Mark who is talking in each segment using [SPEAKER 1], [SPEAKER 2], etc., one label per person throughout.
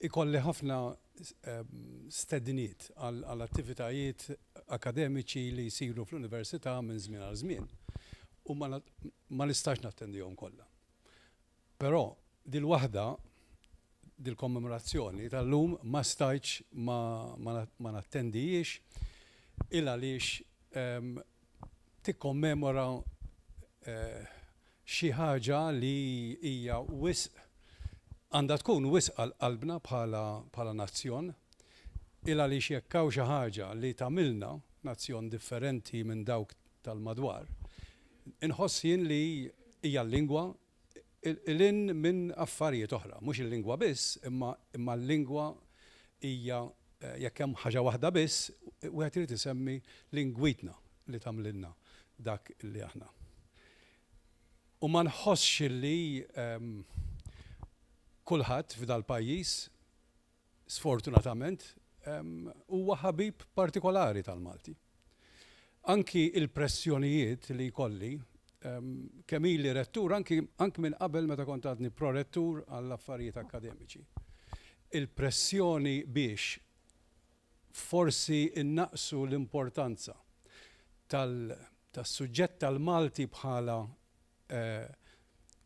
[SPEAKER 1] Ikolli ħafna stedniet għal attivitajiet akademiċi li jsiru fl-Università minn żmien għal żmien u ma nistax nattendihom kollha. Però dil-waħda, dil-kommemorazzjoni tal-lum ma stajtx ma nattendihiex il-għaliex tikkommemora xi ħaġa li hija wisq għandha tkun wisq għal qalbna bħala bħala nazzjon, ilgħaliex jekk hawn xi ħaġa li tagħmilna nazzjon differenti minn dawk tal-madwar, inħoss jien li hija l-lingwa, 'il hinn minn affarijiet oħra. Mhux il-lingwa biss, imma l-lingwa hija, jekk hemm ħaġa waħda biss, wieħed irid isemmi lingwitna li tagħmlilna dak li aħna. U ma nħossx li kulħadd f'dal-pajjiż sfortunatament, huwa ħabib partikolari tal-Malti. Anki il-pressjonijiet li jkolli, kemm ili rettur, anki anki minn qabel meta kont għadni prorettur għall-affarijiet akkademiċi, il-pressjoni biex forsi nnaqqsu l-importanza tal-suġġett tal-Malti bħala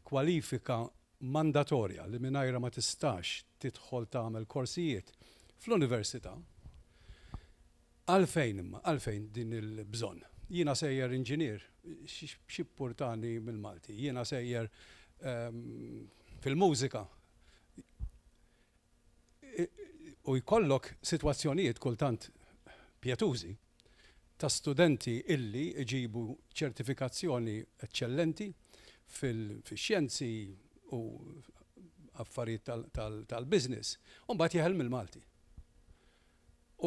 [SPEAKER 1] kwalifika mandatorja li mingħajrha ma tistax tidħol tagħmel korsijiet fl-università, għalfejn imma, għalfejn din il-bżonn? Jiena sejjer inġinier, x'jippurtani mill-Malti? Jiena sejjer fil-mużika, u jkollok sitwazzjonijiet kultant pjetużi ta' studenti illi jġibu ċertifikazzjoni eċċellenti fix-xjenzi u affarijiet tal-business u mbagħad jeħel mill-Malti. U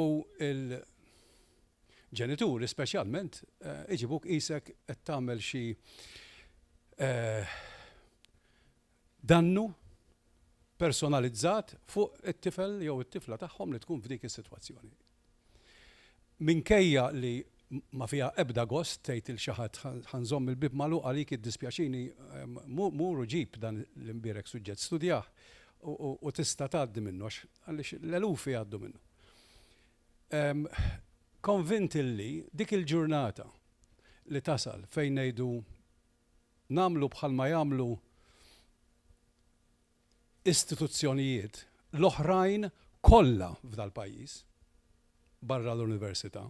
[SPEAKER 1] l-ġenituri speċjalment iġibuk qisek qed tagħmel xi dannu personalizzat fuq it-tifel jew it-tifla tagħhom li tkun f'dik is-sitwazzjoni. Minkejja li ma fiha ebda gost tgħid lil xi ħadd ħa nżomm il-bieb magħluq għalik iddispjaċini mur u ġib dan l-imbierek suġġett studjah u tista' tgħaddi minnu għax għaliex l-eluf jgħaddu minnu. Konvint illi dik il-ġurnata li tasal fejn ngħidu nagħmlu bħalma jagħmlu istituzzjonijiet l-oħrajn kollha f'dal-pajjiż, barra l-Università,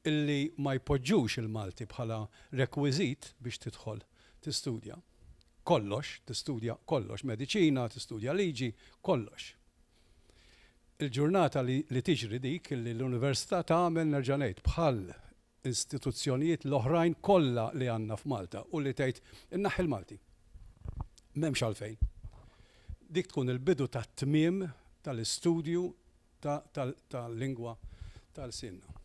[SPEAKER 1] illi ma jpoġġux il-Malti bħala rekwiżit biex tidħol tistudja kollox, tistudja kollox, mediċina, tistudja liġi, kollox. Il-ġurnata li tiġri dik illi l-Università tagħmel, nerġa' ngħid, bħal istituzzjonijiet l-oħrajn kollha li għandna f'Malta u li tgħid inneħħi l-Malti. M'hemmx għalfejn. Dik tkun il-bidu tat-tmiem tal-istudju tal-lingwa ta' lsienna.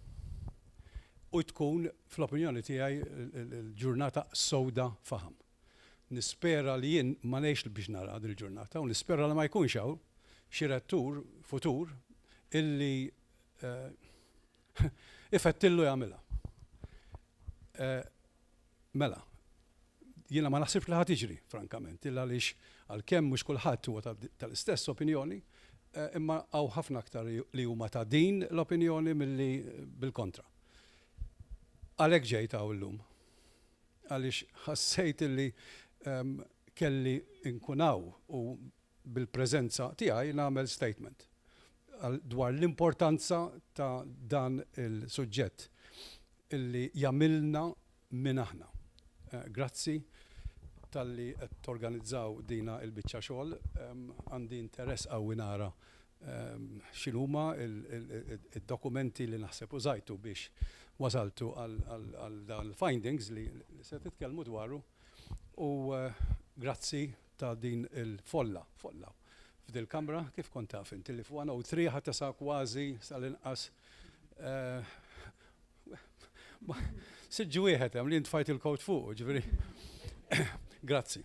[SPEAKER 1] U tkun, fl-opinjoni tiegħi, il-ġurnata sewda faħam. Nispera li jien ma ngħixx biex nara dil-ġurnata u nispera li ma jkunx hawn xi rettur futur illi ifettillu jagħmilha. Mela, jiena ma naħsibx li ħa tiġri, frankament, illa għaliex għalkemm mhux kulħadd huwa tal-istess opinjoni, imma hawn ħafna aktar li huma ta' din l-opinjoni milli bil-kontra. Għalhekk ġejt hawn illum. Għaliex ħassejt illi kelli nkun hawn u bil-preżenza tiegħi nagħmel statement dwar l-importanza ta' dan il-suġġett illi jagħmilna min aħna. Grazzi talli qed torganizzaw dina il-biċċa xogħol. Għandi interess qawwi nara x'inhuma d-dokumenti li naħseb użajtu biex wasaltu għal dan il-findings li se titkellmu dwaru u grazzi ta' din il-folla, folla, f'dil-Kamra, kif kont taf int li f'One O Three ħa tesa' kważi sal-inqas siġġ wieħed hemm li int tfajt il-kowt fuqu, ġifieri. Grazzi.